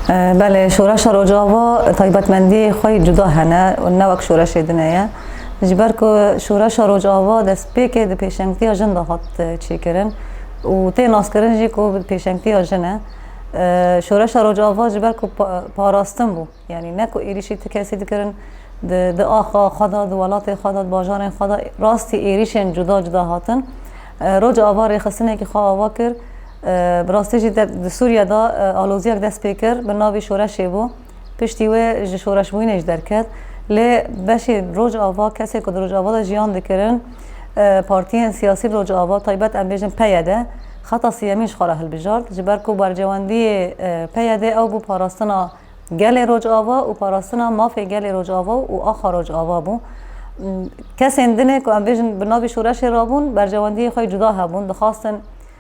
Belê şoreşa Rojava taybetmendiyê xwe yê cuda hene û ne wek şoreşê din e ye. Ji ber ku şoreşa Rojava destpêkê di pêşengtiya jin de hat e, çêkirin û tê naskirin jî ku bi pêşengtiya jin e. E, Şoreşa Rojava ji ber ku parastin bû. Yanî ne ku êrîşî ti kesî dikirin di di axa xwe de, di welatê xwe de, di bajarên xwe de rastî êrîşên cuda cuda hatin. E, Rojava rêxistinekî xwe ava kir. Bi rastî jî di Sûriyê de aloziyek dest pê kir bi navê şoreşê bû. Piştî wê ji şoreşbûyînê jî derket. Lê beşê Rojava, kesên ku di Rojava de jiyan dikirin, partiyên siyasî li Rojava, taybet em bêjin PYD, xeta siyemîn ji xwe re hilbijart. Ji ber ku bercewendiyê PYD ew bû parastina gelê Rojava û parastina mafê gelê Rojava û axa Rojava bû. Kesên din ê ku em bêjin bi navê şoreşê rabûn, bercewendiyê xwe yê cuda hebûn, dixwastin,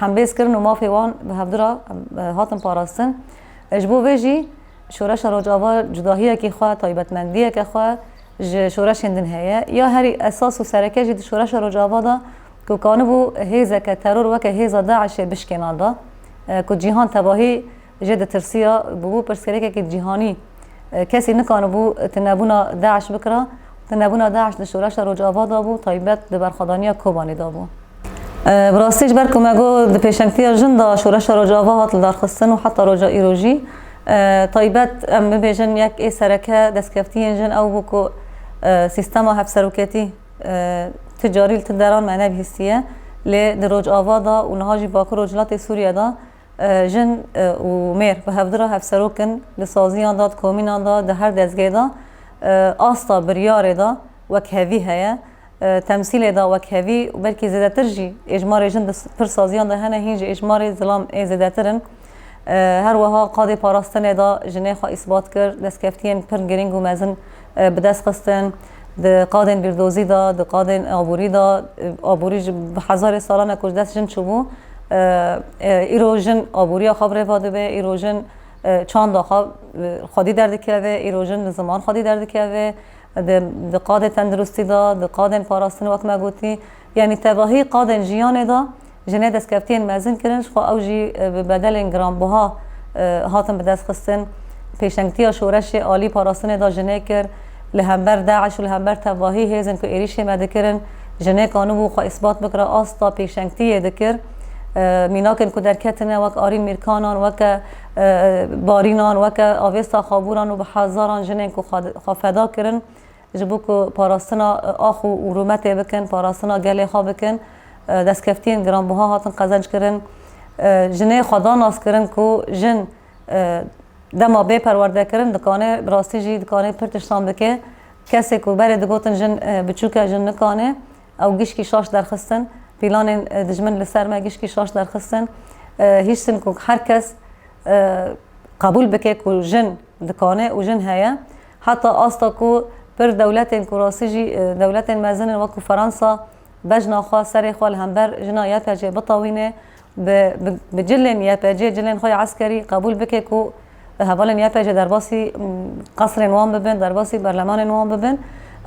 hembêz kirin û mafê wan bi hevdu re hatin parastin. Ji bo vê jî Şoreşa Rojava cudahiyekî xwe, taybetmendiyeke xwe ji şoreşên din heye. Ya herî esas û sereke jî di Şoreşa Rojava de ku kanibû hêzeke teror weke hêza DAIŞ'ê bişkêna da ku cîhan tevahî jê ditirsiya, bûbû pirsgirêkekî cîhanî. Kesî nikanibû tunebûna DAIŞ bikira. Tunebûna DAIŞ di şoreşa Rojava de bû, taybet di berxwedaniya Kobanê de bû. Bi rastî ji ber ku me got di pêşengtiya jin de şoreşa Rojava hat lidarxistin û heta roja îro jî taybet em bibêjin yek ê sereke destkeftiyên jin ew bû ku sîstema hevseroketî tu carî li tu deran me nebihîstiye lê di Rojava de û niha jî Bakur Rojhilatê Sûriye de Jin û mêr bi hevdira hevserok in, di saziyan de, di komînan de, di her dezgehê de asta biryarê de wek hevî heye, temsîlê de wek hevî û belkî zêdetir jî êjmarê jin di pir saziyan de hene, hîn jî êjmarê zilam ê zêdetir in. Her weha qadê parastinê de jinê xwe îsbat kir, destkeftiyên pir girîng û mezin bi dest xistin, di qadên bîrdozî de, di qadên aborî de, aborî ji bi hezarê salan e ku ji dest jin çûbû, îro jin aboriya xwe bi rêva dibe, îro jin çanda xwe xwedî derdikeve, îro jin li ziman xwedî derdikeve, di qadê tendirustî de, di qadên parastinê wek me gotî, yanî tevahî qadên jiyanê de, Jinê destkeftiyên mezin kirin, ji xwe ew jî bi bedelên giranbiha hatin bi dest xistin. Pêşengtiya şoreşê alî parastinê da jinê kir. Li hember DAIŞ û li hember tevahî hêzên ku êrîşê me dikirin, jinê ka nû bû xwe îsbat bikire asta pêşengtiyê dikir. Mînakên ku derketine wek Arîn Mîrkanan, weke Barînan, weke Avêsta Xabûran û bi hezaran jinên ku xwe feda kirin, Ji bo ku parastina ax û rûmetê bikin, parastina gelê xwe bikin, destkeftiyên giranbiha hatin qezenckirin. Jinê xwe da naskirin ku jin dema bê perwerdekirin dikanê, bi rastî jî dikanê pir tiştan bike. Kesê ku berê digotin jin biçûk e, jin nikanê ew gişkî şaş derxistin. Pîlanên dijmin li ser me gişkî şaş derxistin. Hiştin ku her kes qebûl bike ku jin dikanê û jin heye. Heta asta ku pir dewletên ku rastî jî dewletên mezin in wekû Feransa bejna xwe, serê xwe li hember jina YPG'ê bitewîne, bi bi cilên YPG, cilên xwe ya eskerî qebûl bike ku hevalên YPG derbasî qesrên wan bibin, derbasî berlemanên wan bibin.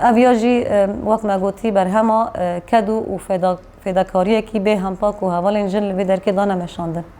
Ev ya jî wek me gotî berhema kedû û fêdakariyekî bê hempa ku hevalên jin li vê derkê dane meşandin.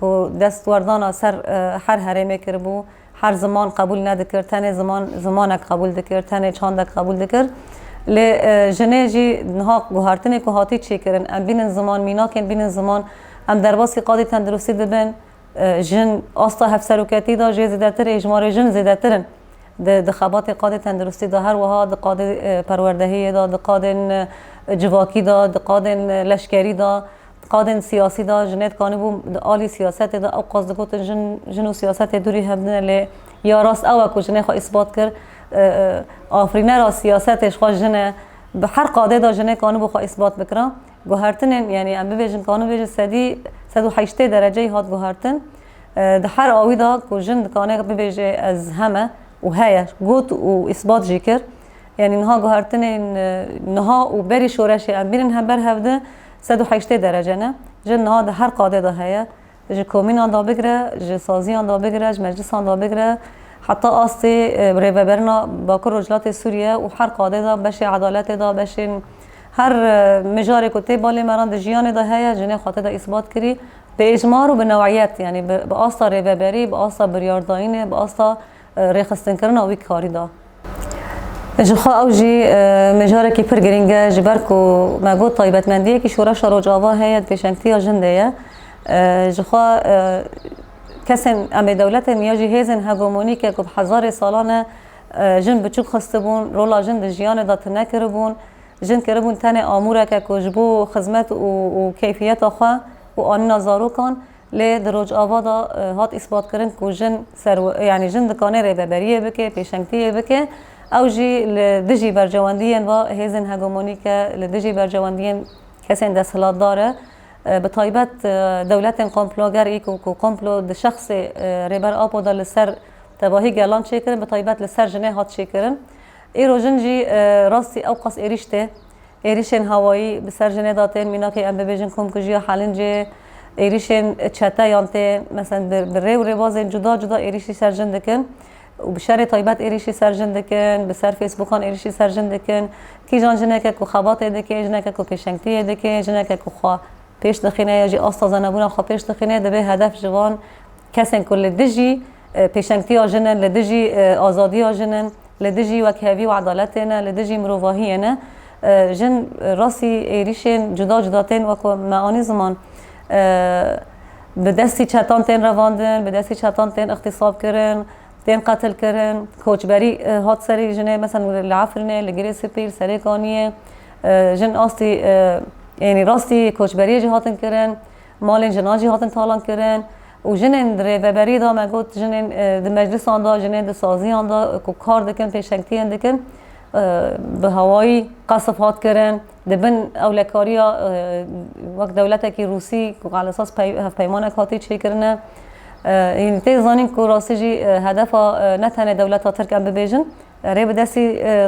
ku destwerdana ser her herêmê kiribû, her ziman qebûl nedikir, tenê ziman zimanek qebûl dikir, tenê çandek qebûl dikir. Lê jinê jî niha guhertinê ku hatî çêkirin, em bînin ziman, mînakên bînin ziman, em derbasî qadê tenduristî dibin, jin asta hevseroketî de jê zêdetir hêjmarê jin zêdetir in di di xebatê qadê tenduristî de, her wiha di qadê perwerdehiyê de, di qadên civakî de, di qadên leşkerî de. Qadên siyasî de jinê dikanî bû di alî siyasetê de ewqas digotin jin jin û siyasetê dûrî hev din e lê ya rast ew e ku jinê xwe îsbat kir afirînera siyasetê ji xwe jin e. Bi her qadê de jinê kanibû xwe îsbat bikira. Guhertinên yanî em bibêjin kanibê ji sedî sed û heştê dereceyî hat guhertin di her awî de ku jin dikane bibêje ez heme û heye got û îsbat jî kir. Yanî niha guhertinên niha û berî şoreşê em bînin hember hev di Sed û heştê derece ne, jin niha di her qadê de heye, ji komînan de bigire, ji saziyan de bigire, ji meclisan de bigire, heta astê rêveberina Bakur Rojhilatê Sûriye û her qadê de, beşê edaletê de, beşên her mijarê ku tê balê me re di jiyanê de heye, jinê xwe tê de îsbat kirî. Bi êcmar û bi new'iyet, yanî bi asta rêveberî, bi asta biryardayînê, bi asta. rêxistinkirina wî karî da. Ji xwe ew jî mijarekî pir girîng e ji ber ku me got taybetmendiyekî şoreşa Rojava heye di pêşengtiya jin de ye. Ji xwe kesên em ê dewletên ya jî hêzên hegemonîk e ku bi hezarê salan e jin biçûk xistibûn, rola jin di jiyanê de tune kiribûn, jin kiribûn tenê amûreke ku ji bo xizmet û keyfiyeta xwe û anîna zarokan Lê di Rojava de hat îsbatkirin ku jin ser yanî jin dikanê rêveberiyê bike, pêşengtiyê bike, ew jî li dijî bercewendiyên va hêzên hegemonîk e, li dijî bercewendiyên kesên desthilatdar e, bi taybet dewletên komploger î ku komplo di şexsê Rêber Apo de li ser tevahî gelan çêkirin, bi taybet li ser jinê hat çêkirin. Îro jin jî rastî ewqas êrîş tê. Êrişên hewayî bi ser jinê de tên, mînakê em bibêjin komkujiya Helincê, êrişên çete yan tê, meselen bi rê û rêbazên cuda cuda êrişî ser jin dikin û bi şerê taybet êrişî ser jin dikin, bi ser fêsbûkan êrişî ser jin dikin. Kîjan jineke ku xebatê dike, jineke ku pêşengtiyê dike, jineke ku xwe pêş dixîne ya jî asta zenebûna xwe pêş dixîne, divê hedef ji van kesên ku li dijî Pêşengtiya jin e, li dijî azadiya jin e, li dijî wekhevî û edaletê ne, li dijî mirovahiyê ne. Jin rastî êrîşên cuda cuda tên wek ku me anî ziman. Bi destî çetan tên revandin, bi destî çetan tên îxtîsab kirin, tên qetil kirin. Koçberî hat serî jinê. Meselen li Efrînê, li Girê Spî, li Serêkaniyê jin astî ênî rastî koçberiyê jî hatin kirin. Malên jinan jî hatin talan kirin. û jinên di rêveberî de me got jinên di meclisan de jinên di saziyan de ku kar dikin pêşengtiyên dikin bi hawayî qesf hat kirin di bin ewlekariya wek dewletekî rûsî ku qal esas hevpeymanek hatî çêkirin e yîn tê zanîn ku rastî jî hedefa ne tenê dewleta tirk em bibêjin rê bi destî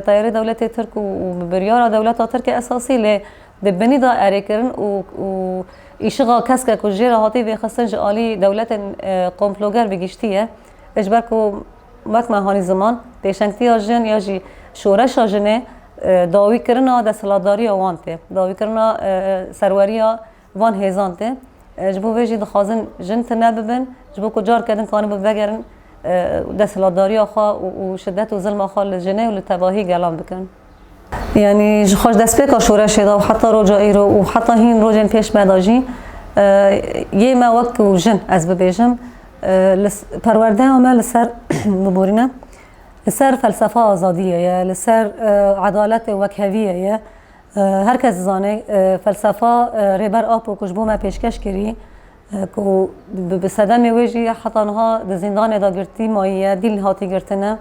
teyarê dewletê tirk û bi biryara dewleta tirk e esasî lê Di binî de erêkirin û îşixa keske ku jê re hatî vêxistin ji alî dewletên komploger bi giştî ye. Ji ber ku wek me hanî ziman, pêşengtiya jin ya jî şoreşa jinê dawîkirina desthilatdariya wan tê, dawîkirina serweriya van hêzan tê. Ji bo vê jî dixwazin jin tune bibin ji bo ku careke din kanibin vegerin desthilatdariya xwe û şidet û zilma xwe li jinê û li tevahî gelan bikin. Yanî ji xwe ji destpêka şoreşê de û heta roja îro û heta hîn rojên pêş me de jî yê me wek ku jin ez bibêjim perwerdeya me li ser biborîne li ser felsefa azadiyê ye, li ser edaletê wekheviyê ye. Her kes dizane felsefa Rêber Apo ku ji bo me pêşkeş kirî Ku bi sedemê wê jî heta niha di zîndanê de girtî mayî ye, dîl hatî girtine.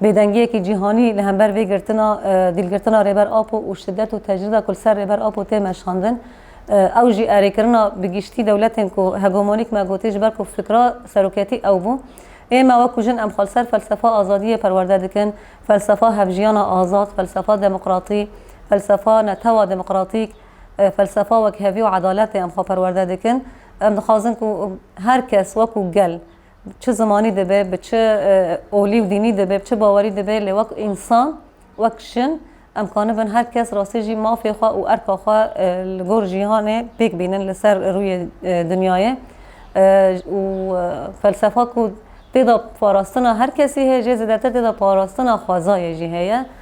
Bêdengiyekî cîhanî li hember vê girtina dîlgirtina Rêber Apo û şidet û tecrîda ku li ser Rêber Apo tê meşandin, ew jî erêkirina bi giştî dewletên ku hegemonîk me gotî ji ber ku fikra seroketî ew bû. Ême wek ku jin em xwe li ser felsefa azadiyê perwerde dikin, felsefa hevjiyana azad, felsefa demokratî, felsefa netewa demokratîk, felsefa wekhevî û edaletê em xwe perwerde dikin. Em dixwazin ku her kes wekû gel çi zimanî dibe, bi çi olî û dînî dibe, bi çi bawerî dibe lê wek însan, wek jin em kanibin her kes rastî jî mafê xwe û erka xwe li gor jîhanê pêk bînin li ser rûyê dinyayê û felsefa ku têda parastina her kesî heye jê zêdetir têda parastina xwezayê jî heye.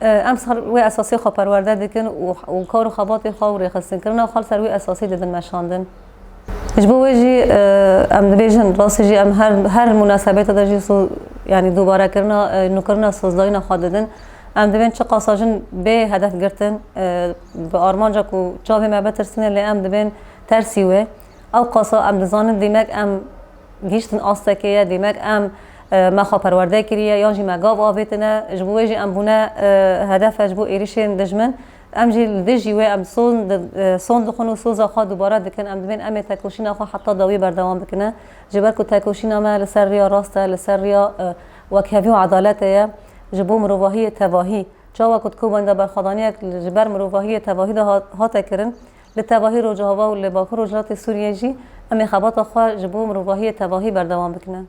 Emsal wê esasê xwe perwerde dikin û kar û xebatê xwe û rêxistinkirina xwe li ser wê esasê dibin meşandin. Ji bo wê jî em dibêjin rastî jî em her her munasebetê de jî yanî dûbarekirina nûkirina sozdayîna xwe didin. Em dibên çi qasa jin bê hedef girtin bi armanca ku çavê me bitirsîne lê em dibên tersî wê. Ew qasa em dizanin dîmek em Gihîştin astekê ye dîmek em me xwe perwerde kiriye yan jî me gav avêtine ji bo wê jî em bûne hedefe ji bo êrîşên dijmin. Em jî li dijî wê em son dixwin û soza xwe dubare dikin. Em divên em ê tekoşîna xwe heta dawî berdewam bikine. Ji ber ku tekoşîna me li ser riya rast e, li ser riya wekhevî û edaletê ye ji bo mirovahiyê tevahî. Çawa ku di Kobani'da berxwedaniyek ji ber mirovahiyê tevahî de hate kirin, Li tevahî Rojava û li Bakur Rojhilatê Sûriyê jî em ê xebata xwe ji bo mirovahiyê tevahî berdewam bikin.